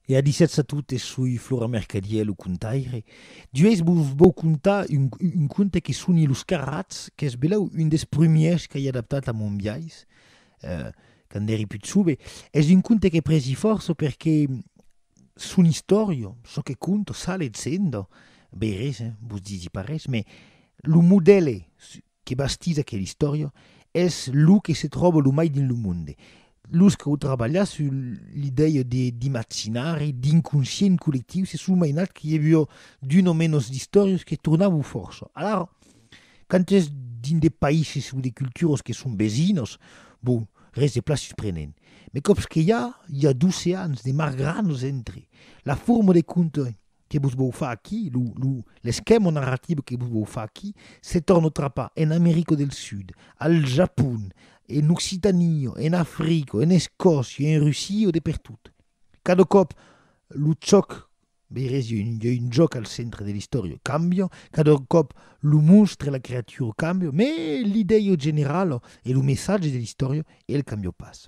E a disètz a totes, soi Flora Mercadier, lo contaire. D'uèis vos vòu contar un, un conte que soni Los Carrats, qu'es belèu un des prumièrs qu'ai adaptat a mon biais, eh, quand èri pus jove. Es un conte que presi fòrça perque son istòria, çò que conta, sale essendo, bèi res, eh, vos disi pas res, mès lo modèle que bastís aquela istòria es lo que se tròba lo mai dins lo monde. Los qu'au trabalhat sus l'idèia de d'imaginari, d'inconscient collectiu, se son mainat que i avió d'un o menos d'istòrias que tornavan fòrça. Alara, quand es dins de païses o de culturas que son vesinas, bon, res de plan susprenent. Mai còps que i a, i a doceans de margrans entre la forma de contar que vos vòu far aquí, lo, lo, l'esquèma narratiu que vos vòu far aquí, se torna trapar en America del Sud, al Japon, en Occitania, en Africa, en Escòcia, en Russia, de pertot. Cada còp lo chòc, veirètz, i a un, i a un jòc al centre de l'istòria, cambia, cada còp lo monstre, la creatura cambia, mes l'idèia generala e lo messatge de l'istòria, el cambia pas.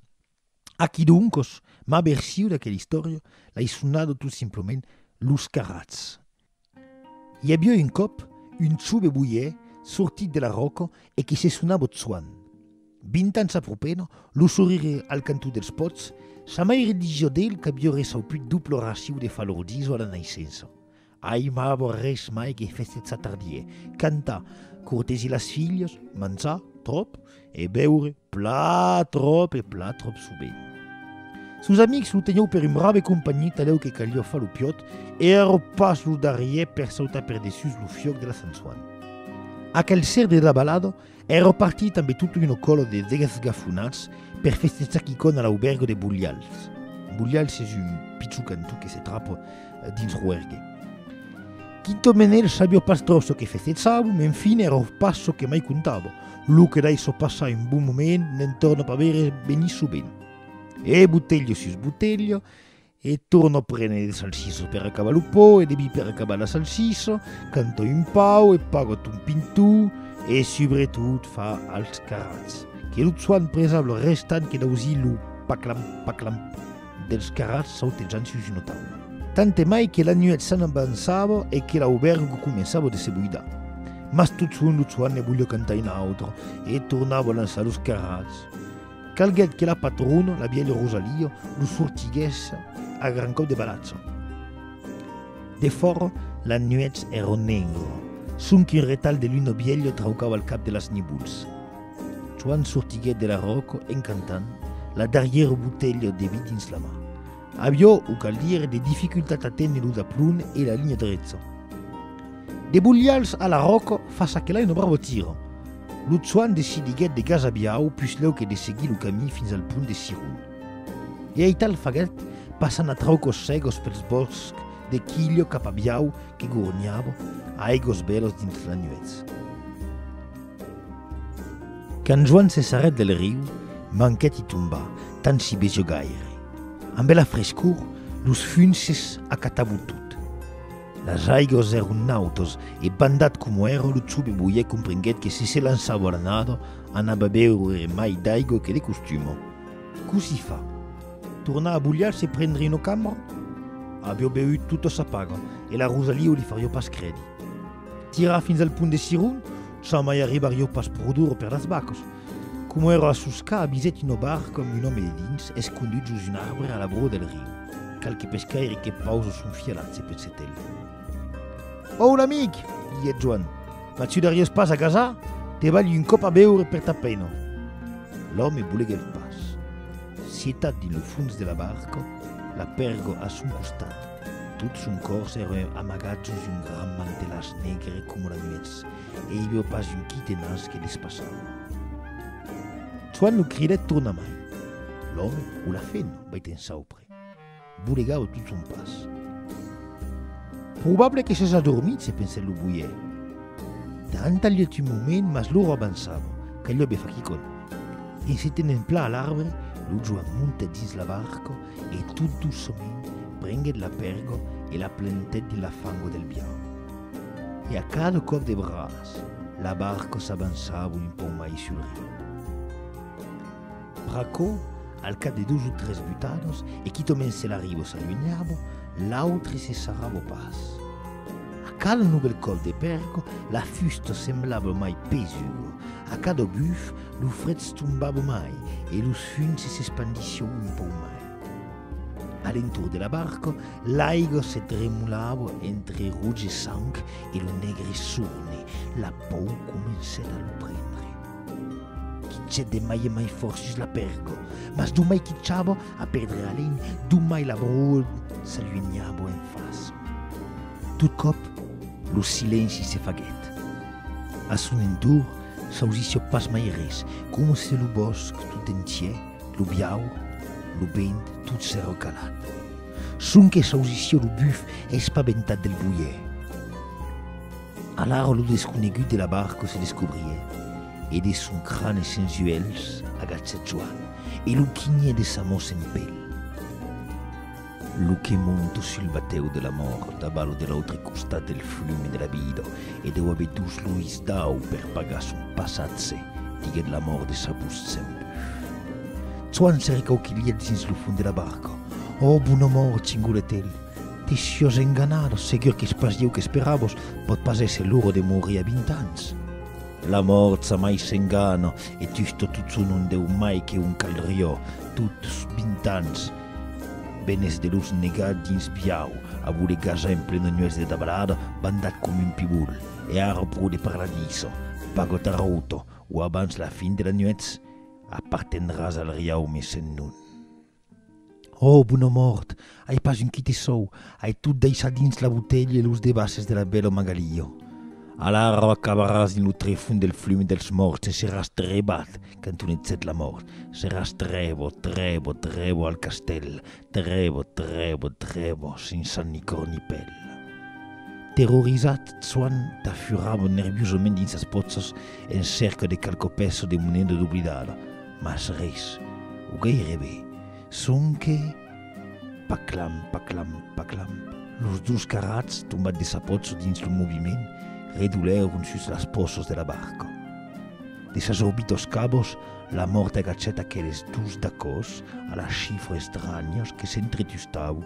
Aquí doncos ma version d'aquela istòria l'ai sonada tot simplement Los Carrats. I aviá un còp un chove boier sortit de la ròca e que se sonava Tsuan. Vint ans apropena, lo sorire al cantó dels pòts, sa maire disiá d'el qu'aviá reçaut put dopla racion de falor d'iso a la naissença. Ai ma avó res mai que festes s'atardier, cantar, cortesir las filhas, manjar, tròp, e beure, plan tròp e plan tròp sovent. Sos amics lo tenhou per un brave companhí talèu que calió far lo piòt e ero pas lo darrier per sautar per dessús lo fiòc de la Sant Soan. Aquel ser de la balada È repartit tanbe tota una còla de degasgafonats per festesar quicòm a l'auberga de Bolhals. Bolhals es un pichon cantó que se trapa dins Roergue. Quinto Menel sabió pas tròp çò que festesàvon, men fin èra pas çò que mai comptava. Lo que daissò passar un bon moment n'en torna pas veire venir sovent. E botelha sus botelha, E torno prene de salsiso per acabar lo pò e de vi per acabar la salsiso, canta un pau e paga ton pintó e subretot fa als carrats que lo tsuan presa lo restant que d'ausir lo paclam paclam dels carrats sautejant sus una taula. Tant e mai que la nuèch s'anavançava e que l'aubèrgo començava de se buidar. Mas totson lo tsuan ne voliá cantar un autre e tornava lançar los carrats. Calguèt que la patrona, la vièlha Rosalia, lo sortiguèsse a gran còp de balatza. Defòra, las nuèchs èron negras, sonque un retalh de luna vièlha traucava el cap de las nivols. Joan sortiguèt de la ròca en cantant, la darrièra botelha de vi dins la man. Avió, o cal dire, de dificultat a téner lo daplon e la linha drecha. De bolhals a la ròca fa ça que l'ai una brava tira. Lo Chuan decidiguèt de gasabiau puslèu que de seguir lo camí fins al pont de Cirun. E aital faguèt, passant a traucos cegos pels bòscs de Quillo cap a Biau que gorniava a aigos bèlas dins la nuèch. Quand Joan se sarrèt del riu, manquèt i tombar, tant s'i besió gaire. Ambe la frescor, los funces acatavan tot. Las aigos èron nautas e bandat coma èra lo chube boier comprenguèt que se se lançava a la nada anava beure mai d'aigo que de costuma. Cossí fa? Tornar a Bulhar se prendre una cambra? Avió beut tota sa paga e la Rosalio li farió pas credi. Tirar fins al punt de Siron, sans mai arribar jo pas pro duro per las bacas. Coma èra a soscar, avisèt una barca amb un òme dedins, escondut jos un arbre a l'abrò del riu. Qualque pescaire que pausa son fialat se pensèt el. Òu, l'amic! diguèt Joan. Mas tu dariás pas a gasar? Te balhi un còp a beure per ta pena. L'òme boleguèt pas. Sietat dins lo fons de la barca, la pèrga a son costat. Tot son còrs ère amagat sus un gran mantelàs negre coma la nuetz, e i veu pas un quitenas que despassava. Joan lo cridèt tornamai. L'òme, o la fena, veit ensaupre, bolegava tot son pas. Probable que s'es adormit, se pensèt lo boier. Joan talhèt un moment, mas l'ora avançava, caliá be far quicòm. En se tenent plan a l'arbre, lo Joan montèt dins la barca E tot doçament prenguèt la pèrga e la plantèt dins la fangua del bian. E a cada còp de braç, la barca s'avançava un pauc mai sul riu. Pr'aquò, al cap de dos o tres butadas, e quitament se la riba s'alunhava, l'autre se sarrava pas. A cada novèl còp de pèrga, la fusta semblava mai pesuga, A cada buf, lo fred s'tombava mai e los funs s'espandission un pauc mai. A l'entorn de la barca, l'aiga se tremolava entre roge sang e lo negre sorne, la pau comencèt a lo prendre. Quichèt de mai en mai fòrt sus la pèrga, mas domai quichava a perdre alènh, domai la broa s'alunhava en faça. Tot còp, lo silenci se faguèt. A son entorn s'ausissió pas mai res, coma se lo bòsc tot entier, lo biau, lo vent, tot s'èra calat. Sonque s'ausissió lo buf espaventat del boier. Alara lo desconegut de la barca se descobrié, e de son crane sens uèlhs agachèt Joan, e lo quinhé de sa mò sen pèl. Lo que monto sul batèu de la mòrt, avalo de l'autre costat del flume de la vida, e deu aver dus lois dau per pagar son passatge, diguèt la mòrt de Sabus Tsembus. Tsoan se recauquilhèt dins lo fond de la barca. Ò, bona mòrt, cingolèt el, te siós enganada, segur qu'es pas ieu qu'esperavos, pòt pas èsser l'ora de morir a vint ans. La mòrt jamai s'engana, e tustot lo tsoan non deu mai que un calriò, tots vint ans. Benes de los negar dins biau, a voler gajar en plena nuèch de dabalada, bandat com un pibul, e ara pro de paradiso, pago tarauto, o abans la fin de la nuèch, apartendràs al riau me sen non. Ò, bona mòrt! Ai pas un quite sòu, ai tot daissat dins la botelha e los devases de la bèla Magalio. Alara acabaràs dins lo trefon del flum dels mòrts e seràs trebat, Cantonizèt la mòrt, seràs trèvo, trèvo, trèvo al castèl, trèvo, trèvo, trèvo, sensa ni còr ni pèl. Terrorizat, Tsoan tafurava nerviosament dins sas pòchas en cèrca de qualque pèça de moneda doblidada, mas res, o gairebe, sonque, paclamp, paclamp, paclamp, los dos carrats, tombats de sa pòcha dins lo moviment, redolèron sus las pòchas de la barca. De sas òbitos cabos, la mòrt agachèt aqueles dus dacòs a la chifra estrànhos que s'entretustau.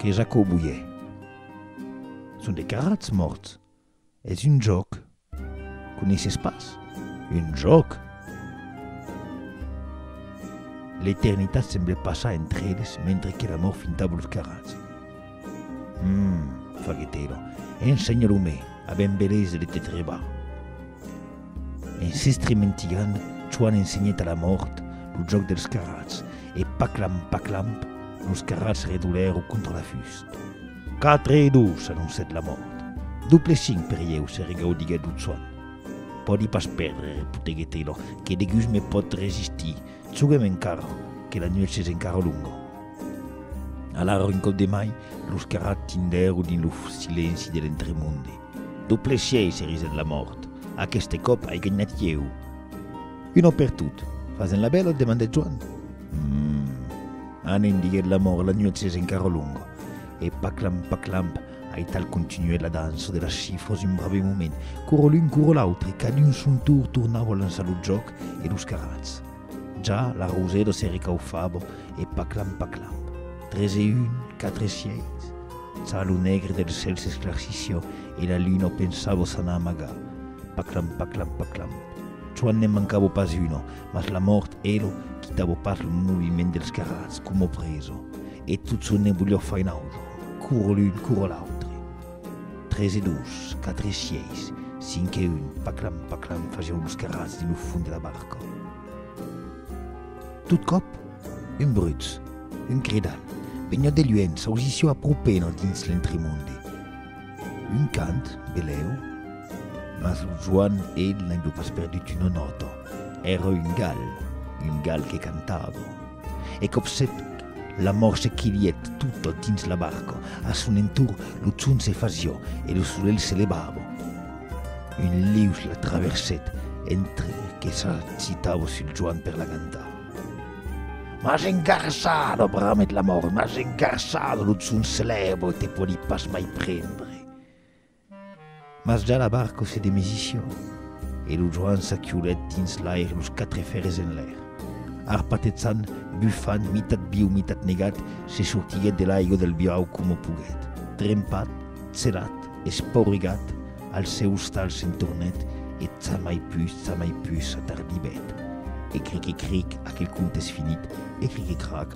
Qu'es aquò, boier? Son de carrats mòrts. Es un jòc. Coneisses pas? Un jòc? L'eternitat semble passar entre eles mentre que la mòrt finta blos carrats. Hum, faguèt era, en senhalant-me a ben belesa de te trebar. En s'estrementilhant, Chuan ensenhèt a la mòrt lo jòc dels carrats, e paclamp, paclamp, los carrats redolèron contra la fust. Quatre e dos, anoncèt la mòrt. Doble cinc per ieu, se regaudiguèt lo Chuan. Pòdi pas pèrdre, repoteguèt era, que degus me pòt resistir, Joguem encara, que la nuèch es encara longa. Alara un còp de mai, los carrats tindèron dins lo silenci de l'entremonde. D'au pleshièi se risèt la mòrt. Aqueste còp ai ganhat ieu. Un òp per tot. Fasèm la bèla? demandèt Joan. Hum. Anem, diguèt la mòrt, la nuèch es encara longa. E paclamp, paclamp, Aital continuèt la dança de las chifras un brave moment. Coro l'un, coro l'autre, cadun son tour tornava lançar lo jòc e los carrats. Ja la rosèla se recaufava e paclam paclam. Tres e un, quatre e sièit. Ça lo negre del cèl s'esclarcissiá e la luna o pensava s'anar amagar. Paclam paclam paclam. Çò ne'n mancava pas una, mas la mòrt ela quitava pas lo moviment dels carrats coma presa e tot çò ne'n voliá far un autre. cur l'un cur l'autre. Tres e dos, quatre e sièis, cinc e un, paclam, paclam fasián los carrats dins lo fond de la barca. Tot còp, un brutz, un cridal, veniá de luènh, s'ausissió a propen al dins l'entremonde. Un cant, belèu, mas lo Joan el n'avió pas perdut una nòta, èra un gal, un gal que cantava. E còp se fec, l'amor se quilhèt tota dins la barca, a son entorn lo chon se fasió e lo solelh se levava. Un lius la traversèt entre que s'agitava sul joan per la gantar. M'as engarçada! bramèt l'amor, m'as engarçada, lo chon se lèva e te pòdi pas mai prendre. Mas ja la barco se demesiciò, e lo Joan s'aquiolèt dins l'aire los quatre fèrres enlèr. Arpatetsant, bufant, mitat viu, mitat negat, se sortiguèt de l'aigo del biau coma poguèt. Trempat, tselat, espaurigat, al seu ostal se'n tornèt e tsa mai pus, tsa mai pus, s'atardivèt. Ecric-ecric, aquel conte es finit, ecric-ecrac,